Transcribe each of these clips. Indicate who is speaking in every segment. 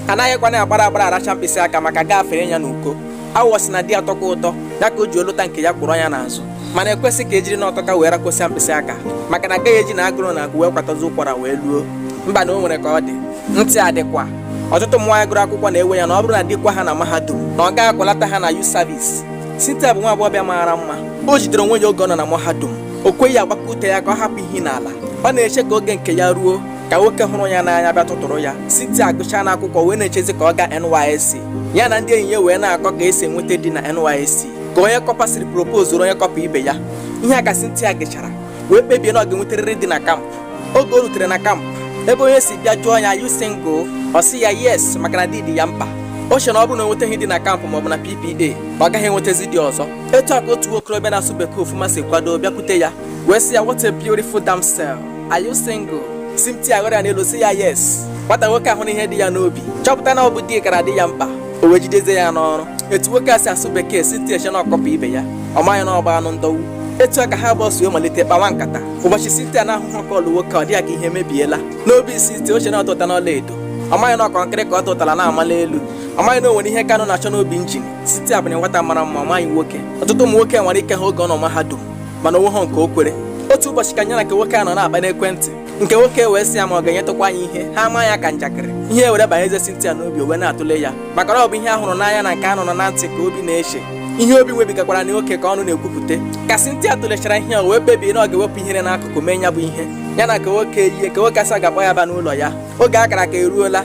Speaker 1: anaghịkwanụ agbara agbara aracha mkpịsị aka maka gafere ya n'uko awọ sị na di atọka ụtọ ya ka o ji ọ lụta nke ya kwọrọ ya n'azụ mana ekwesị ka ejiri na ọ tọka wee rakosia mkpịsị aka maka na agaghị eji na agụrụ na-agụ wee kwatazi ụkwara wee luo mba na o nwere ka ọ dị ntị adịkwa ọtụtụ ụmụ nwaanyị gụrụ akwụkwọ na-ewe ya na ọ bụrụ na di kwaa ha na mahadum na ọ gaghị akwalata ha na youth service Cynthia bụ nwa agbọghọbịa mara mma o jidere onwe ya oge ọ nọ na mahadum o kweghị agbakọ ute ya ka ọ hapụ ihe n'ala ọ na-eche ka oge nke ya ruo ka nwoke hụrụ ya n'anya bịa tụtụrụ ya Cynthia agụcha na akwụkwọ wee na-echezi ka ọ gaa NYSC ya na ndị enyi ya wee na-akọ ka esi enweta di na NYSC ka onye kọpa siri propozuru onye kọpa ibe ya ihe a ka Cynthia gechara wee kpebie na ọ ga-enwetarịrị di na kampụ oge o rutere na kampụ ebe onye si bịa jụọ ya are you single ọ sị ya yes maka na di dị ya mkpa o chere na ọ bụrụ na o nwetaghị di na kampụ maọbụ na PPA na ọ gaghị enwetazi di ọzọ etu a ka otu nwokorobịa na-asụ bekee ọfụma si kwado bịakwute ya wee sị ya what a beautiful damsel Are you single? Cynthia ghọrọ ya n'elu sị ya yes. Nwata nwoke ahụ na ihe dị ya n'obi chọpụta na ọ bụ di kara dị ya mkpa o wee jidezie ya n'ọrụ etu nwoke a si asụ bekee Cynthia che na ọ kọpa ibe ya ọ maghị na ọ bụ anụ ndọwu etu a ka ha abụọ si wee malite kpawa nkata ụbọchị Cynthia na-ahụhụ call nwoke ọ dị ya ka ihe emebiela n'obi Cynthia o che na ọ tụtana ọla edo ọ maghị na ọ kọnkịrị ka ọ tụtara na-amala elu ọ maghị na o nwere ihe Kanu na-achọ n'obi njin Cynthia bụnụ nwata mara mma ọ maghị nwoke ọtụtụ ụmụ nwoke nwara ike ha oge ọ nọ mahadum mana o nweghị nke o kwere otu ụbọchị ka ya na nke nwoke a nọ na-akpa n'ekwentị nke nwoke wee sị ya ma ọ ga-enyetụkwa ya ihe ha ama ya ka njakịrị ihe were banyezie Cynthia n'obi o wee na-atụle ya maka na ọ bụ ihe a hụrụ n'anya na nke a nụrụ na ntị ka obi na-eche ihe obi webigakwara na oke ka ọnụ na-ekwupụta ka Cynthia tụlechara ihe o wee kpebie na ọ ga-ewepụ ihere n'akụkụ mee ya bụ ihe ya na nke nwoke yie ka nwoke a si ga-akpọ ya ba n'ụlọ ya oge a kara aka eruola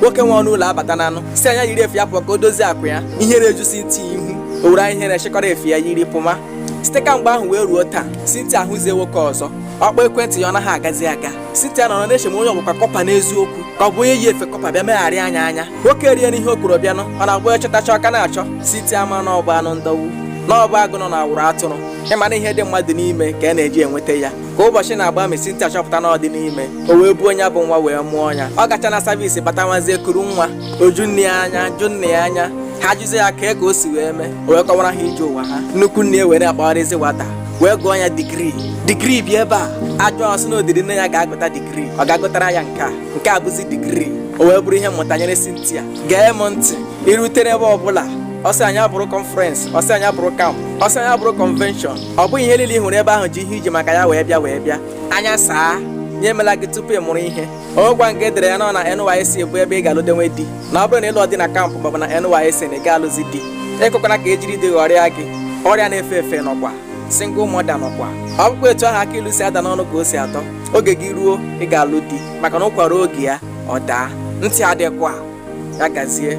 Speaker 1: nwoke nwe ọnụ ụlọ abatananụ sị ya nya yiri efe ya pụọ ka o dozie akwa ya ihere eju Cynthia ihu o were anya ihere chịkọrọ efe ya yiri pụma site ka mgbe ahụ wee ruo taa Cynthia ahụzighị nwoke ọzọ ọ kpọọ ekwentị ya ọ naghị agazi aga Cynthia nọrọ na-eche ma onye ọ bụkwa kọpa n'eziokwu ka ọ bụ onye yi efe kọpa bịa megharịa ya anya nwoke eriena ihe o kwuru bịanụ ọ na-abụ ya chọtacha ọ ka na-achọ Cynthia ama na ọ bụ anụ ndọwu na ọ bụ agụ nọ na awụrụ atụrụ ị ma na ihe dị mmadụ n'ime ka a na-eji enweta ya ka ụbọchị na-agba ma Cynthia achọpụta na ọ dịna ime o wee buo ya bụ nwa wee mụọ ya ọ gacha na savisi bata nwazie kuru nwa o ju nne ya anya ju nna ya anya ha jụzie ya ka ka o si wee mee o wee kọwara ha ije ụwa ha nnukwu nne ya wee na-akpagharịzi nwata wee gụọ ya digrii digrii bịa ebe a a jụọ ọ sị na o ziri nne ya gaa gụta digrii ọ gaa gụtara ya nke a nke a bụzi digrii o wee bụrụ ihe mmụta nyere Cynthia gee m ntị i rutere ebe ọbụla ọ sị na ya bụrụ conference ọ sị na ya bụrụ camp ọ sị na ya bụrụ convention ọ bụghị ihe niile ị hụrụ ebe ahụ ji ihe i ji maka ya wee bịa anya saa ya emela gị tupu ị mụrụ ihe ọgwa nke e dere ya na ọ na NYSC bụ ebe ị ga-alụdenwe di na ọ bụrụ na ị lụghị di na campus maọbụ na NYSC na ị ga-alụzi di ikwekwana ka e jiri di ghọrịa gị ọrịa na-efe efe nọkwa single mother nọkwa ọ bụkwa etu ahụ akị ilu si ada n'ọnụ ka o si atọ oge gị ruo ị ga-alụ di maka na ụkwa ruo oge ya ọ daa ntị adịkwa ya gazie